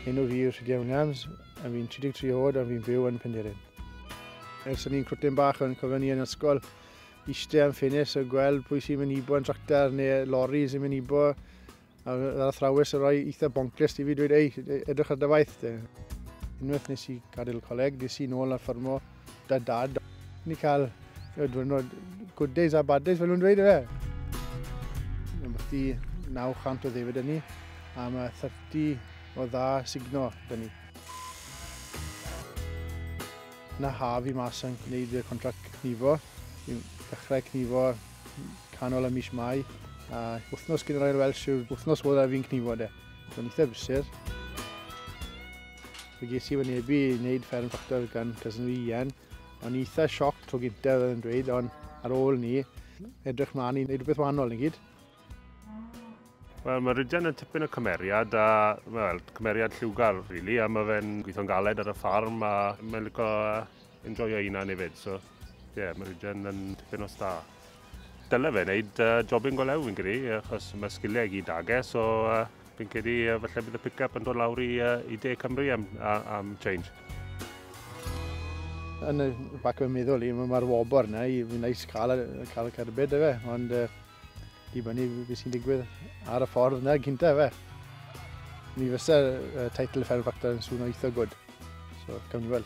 Enw fi yw Rhydiau Williams, a fi'n 33 oed a fi'n byw yn Penderyn. Ers o'n i'n cwtyn bach o'n cofio ni yn ysgol, eistedd am ffenest a gweld pwy sy'n mynd i bo yn tractar neu lorri sy'n mynd i bo. A ar athrawes yn rhoi eitha bonglist i fi dweud, ei, edrych ar dy waith. Unwaith nes i gadael coleg, des i'n ôl ar ffarmo Da dad, ni cael y diwrnod good days a bad days fel nhw'n dweud efe. Ambellti 900 o ddefyd yn ni, a mae 30 o dda signo yn ni. Na haf i mas yn gwneud y contract cnifo, i ddechrau cnifo canol y mis mai, a wythnos gyda'r Ail Welsh yw'r wythnos fod a fi'n cnifo de. Mae'n eitha brysur. Fe ges i wynebu i wneud fferm ffactor gan cysyn fi Ian. O'n i eitha sioc tro gyntaf oedd yn dweud, ond ar ôl ni, edrych mlaen i wneud rhywbeth wahanol yn gyd. Wel, mae Rydgen yn tipyn o cymeriad, a well, cymeriad lliwgar, really, a mae fe'n gweithio'n galed ar y ffarm, a mae'n licio enjoyo einan hefyd, so, ie, yeah, mae Rydgen yn tipyn o star. Dyle fe wneud uh, job yn golew fi'n credu, achos mae sgiliau i gyd age, so uh, fi'n credu uh, falle bydd y pick-up yn dod lawr i, uh, i De Cymru am, am change. Yn y bac o'n meddwl i, mae'r wobr yna, i fi'n neis cael, cael y cerbyd efe, ond uh, dibynnu beth sy'n digwydd ar y ffordd yna gyntaf efe. Mi fysa uh, teitl y Fferm Factor yn sŵn o eitha gwrdd. So, gawn ni weld.